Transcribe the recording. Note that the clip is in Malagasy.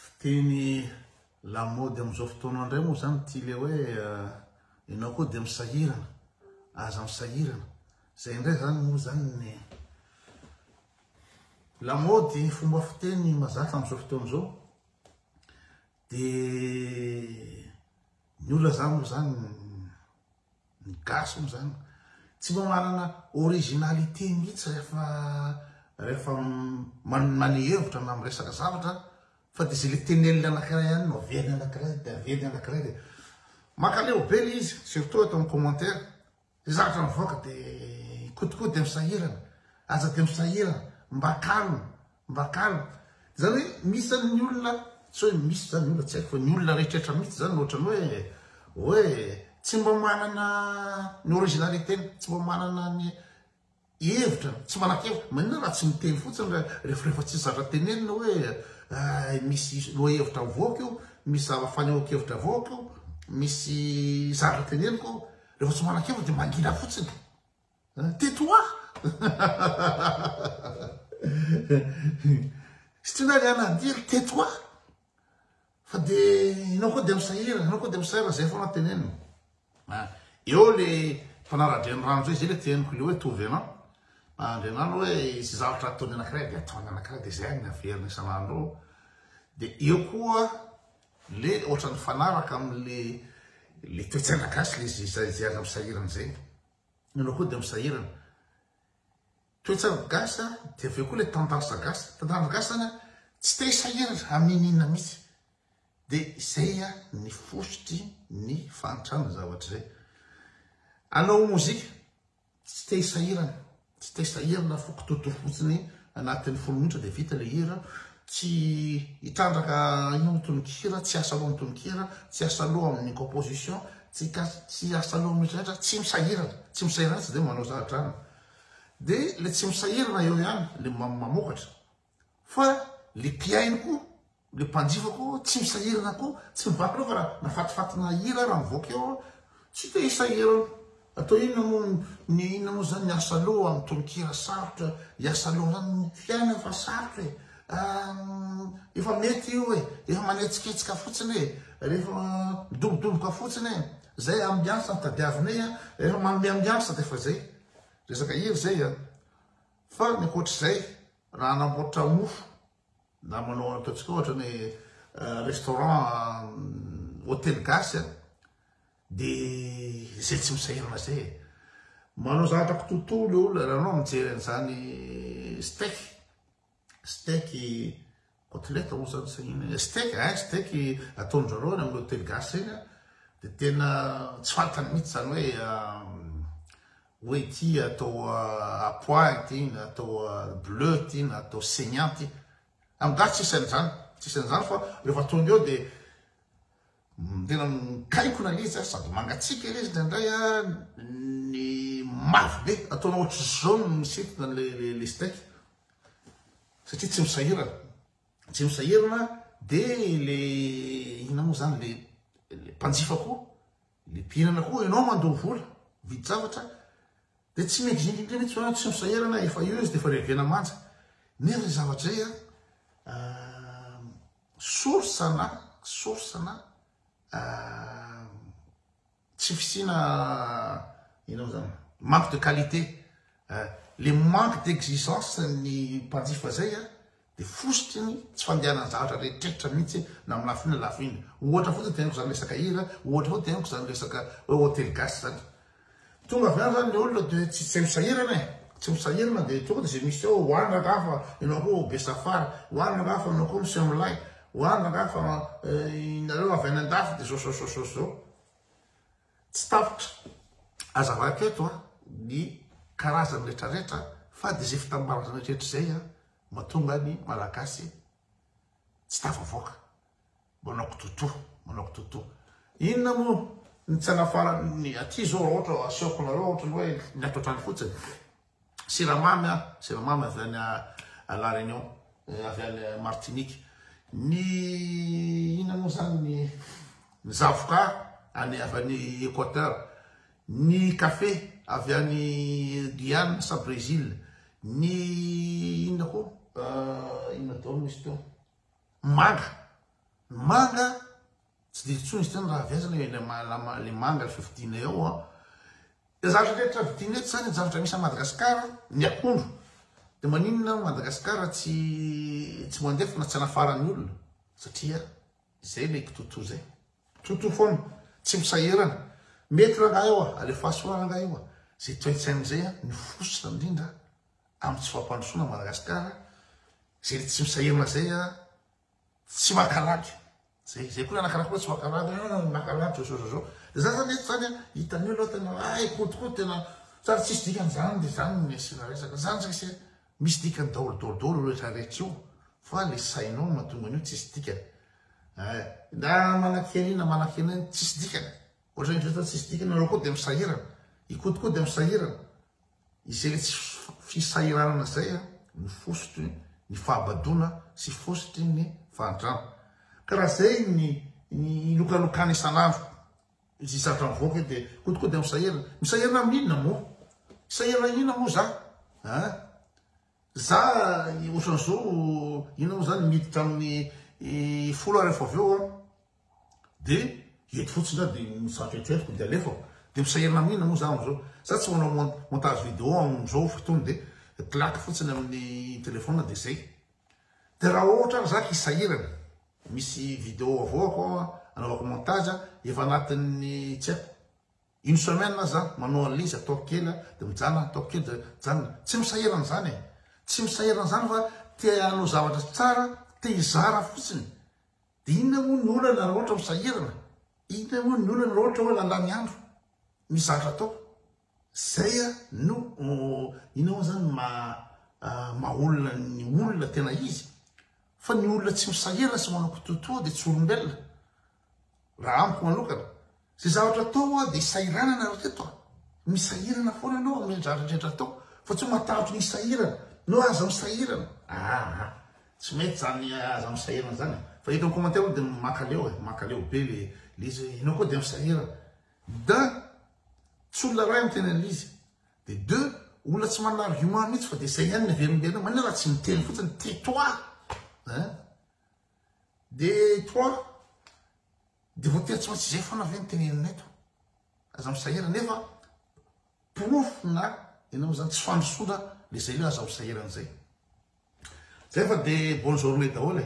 Fiteny lamaody amin'izao fotoana indray moa izany ity ilay hoe ianao koa dia misahirana, aza misahirana. Izay indray izany moa izany ny lamaody fomba fiteny mazatra amin'izao fotoana izao. Dia ny olona izany moa izany Ny gasy moa zany tsy mba manana originalité mihitsy rehefa rehefa manome hevitra na miresaka zavatra fa dia izay ilay tenenin'ny anankiray ihany no averin'ny anankiray dia averin'ny anankiray dia mankaleo be ilay izy surtout ato amin'ny commentaire izay zavatra mivoaka dia ikotikody dia misahirana aza dia misahirana mba kalma Mba calme. Izany hoe misy izany ny olona, tsy hoe misy izany ny olona, tsy haiko fa ny olona rehetrrehetra mihitsy izany no ohatran'ny hoe, hoe tsy mba manana ny originalité-ny, tsy mba manana ny hevitra, tsy manan-kevitra. Maninona raha tsy miteny fotsiny ra, rehefa, rehefa tsisy zavatra tenenina hoe, hay, misy lohahevitra mivoaka io, misy zava, fanehoan-kevitra avoaka io, misy zavatra teneniko io. Rehefa tsy manan-kevitra dia mangina fotsiny. Tais toi! Sitrina ry anadily, tais toi! Fa dia ianao koa dia misahira, ianao koa dia misahira, izay foana tenenina. Ah, eo le mpanara-drenirano izay, izay le teneniko le hoe tovy ianao. Andrianano hoe sy zavatra ataony anakiray dia ataony anakiray dia izay ny averina isan'andro eo. Dia eo koa le ohatran'ny fanaraka amin'le le toe-tsaina gasy le izay aza misahirana izay. Ianao koa dia misahirana. Toetsain'ny gasy dia avy eo koa ilay tendance gasy. Tendance gasy zany a, tsy te hisahirana amin'ny inona inona mihitsy. Dia izay ny fositry ny fahantrana ny zavatra izay. Hanao mozika, tsy te hisahirana. Tsy te sahira na foko toto fotsiny anatin'ny folo minitra dia vita ilay hira. Tsy hitrandraka inona ny tononkira, tsy hiasa loha ny tononkira, tsy hiasa loha amin'ny composition, tsy hiasa loha amin'ny rehetra, tsy misahirana, tsy misahirana tsy dia manao za-drano. Dia ilay tsy misahirana eo ihany, ilay mamokatra. Fa le mpihaino koa, le mpanjifa koa tsy misahirana koa, tsy mivakina fa raha nafatifatina hira raha mivoaka eo an, tsy te hisahirana. Atao inona moa ny inona moa zany ny asa loha amin'ny tononkira sarotra, ny asa loha zany ny mpihaino efa sarotra e, ah efa mety io e, efa manetsiketsika fotsiny e, rehefa midobodoboka fotsiny e, zay ambiance no tadiavinay an, rehefa manome ambiance dia efa zay, resaka hira zay an. Fa ny ankoatr'izay, raha hanamboatra mofo na manao ataontsika ohatra ny restaurant hotely gasy dia izay tsy misahirana izay e. Manao zavatra kitoto ilay olona, raha ianao mijery an'izany steak, steak Kotileta hozy zany sahiana e. Steak eh, steak ataondrareo any amin'ny hotely gasy regny a, de tena tsy fantany mitsy zany hoe hoe ity atao apois ity na atao bleu ity na atao saignant ity. Amin'ny gasy tsisy an'izany, tsisy an'izany fa rehefa tonga eo de Tena mikaikona letsy a, sady mangatsiaka ilay izy indraindray a, ny mavo be ataonao ohatry jaune misintona an'ilay le steak satria tsy misahirana, tsy misahirana dia le inona moa zany le le mpanjifa koa le mpihinana koa ianao mandoa vola vidy zavatra dia tsy mendrindrindra mihitsy ianao tsy misahirana efa eo izy dia efa revena manja nefa zay zavatra zay a ah, Source na source na tsy fisiana ino moa zany manque de qualité le manque d'exigence ny mpanjifa zay a dia fositry ny tsy fandehanan'ny zavatra rehetrrehetra mihitsy na amin'ny lafiny na lafiny ohatra fotsiny teneniko zany resaka hira ohatra fotsiny teneniko zany resaka hoe hotely gasy zany Tonga avy any zany le olona de tsy tsy misahirana e, tsy misahirana de tonga de ze misy ao ho any rangaha fa enao ko ho be safara, ho any rangaha fa enao ko misy milay, ho any rangaha fa nareo avy any andafy de zao zao zao zao zao. Tsy tapitra azavaiko eto a ny karazany retraretra fa de ze fitambaran'zay retraretra zay a matonga ny malagasy. Tsy tafavoaka. Manao kitoto, manao kitoto. Inona moa ny tsy anafaran'ny aty zao raha ohatra asehoko nareo ohatrany hoe ny ato an-trano fotsiny. Siramamy a, siramamy avy any à La Réunion, eh, avy any Martinique. Ny inona moa zany ny ny zavoka any avy any Equateur. Ny kafe avy any Guyane sa Brésil, ny inona koa inona daholo misy teo, manga, ny manga tsy dia intsony izy teo raha avy aiza le le manga le fividianay ao an, le zavatra rehetra vidianay eto zany zavatra misy any Madagascar, ny akondro de maninona Madagascar tsy tsy mandefa na tsy anafaran'ny olona satria. Zay le kitoto zay. Toto foana. Tsy misahirana. Mety rangahy io a. Alefaso ra rangahy io a. Zay toetsaina zay a. Ny fositra indrindra am tsy fampandrosoana Madagascar. Zay le tsy misahirana zay a. Tsy mankarary. Zay zay koa anakana koa tsy mankarary. Ah mankarary zao zao zao. De zany zany eto zany a. Hitan'io aloha tena ay kotikoty tena sady tsisy dikany zany de zany no asiana resaka. Zany sise. Misy dikany daolo daolo daolo io rehetra rehetra io fa le sainao no mahatonga an'io tsisy dikany eh na manakia an'io na manakia an'io tsisy dikany ohatra ny rehetra tsisy dikany nareo koa de misahirana ikody koa de misahirana izay le tsy fisahiranana zay a no fositry ny fahabadoana sy fositry ny fahantrana ka raha zay ny ny ilokalokana isan'andro Izy zatra mivoaka io dia kodikody amin'ny sahirana. Misahirana amin'inona moa? Sahirana inona moa za? Hein? Za ohatran'izao inona moa zany miditra amin'ny folo aho rehefa avy eo an. Dia eto fotsiny aho dia mizatra eritreretiko dia alefako. Dia misahirana amin'inona moa za amin'izao? Za tsy manao montage vidéo amin'izao fotoana dia claque fotsiny amin'ny téléphone dia zay. Dia raha ohatra ary za hisahirana, misy video avoako ao anaovako montage efa anatin'ny tsy haiko une semaine aza za manao an'ilay izy ataoko kely dia mijanona ataoko kely dia mijanona. Tsy misahirana izany e! Tsy misahirana izany fa te hanao zavatra tsara, te hizara fotsiny. Dia inona moa ny olana raha ohatra misahirana? Inona moa ny olana raha ohatra hoe lalan'ny andro? Misy zavatra atao. Zay a no ina moa zany maha maha olona ny olona tena izy fa ny olona tsy misahirana sy manao kitoatoa dia tsy olombelona raha amiko manokana zay zavatra atao hoa dia sahiranana ry reto a misahirana foana anao amin'ny zavatra rehetra atao fa tsy matahotry ny sahirana no aza misahirana aa tsy mety zany aza misahirana zany fa eto amin'ny commentaire dia makaleo e makaleo be le le izy hoe ianao koa dia misahirana D'un, tsy olona iray no tena an'izy, dia deux, olona tsy manana argument mihitsy fa dia izay ihany ny averimberina, maninona raha tsy miteny fotsiny, tais-toi hein! Dia trois, dia voatery tsy maintsy izay foana ve no tenenina eto? Aza misahirana, nefa porofona ianao izany, tsy fandrosoana ilay izay hoe aza misahirana izay. Zay fa dia bonne journée daholo e!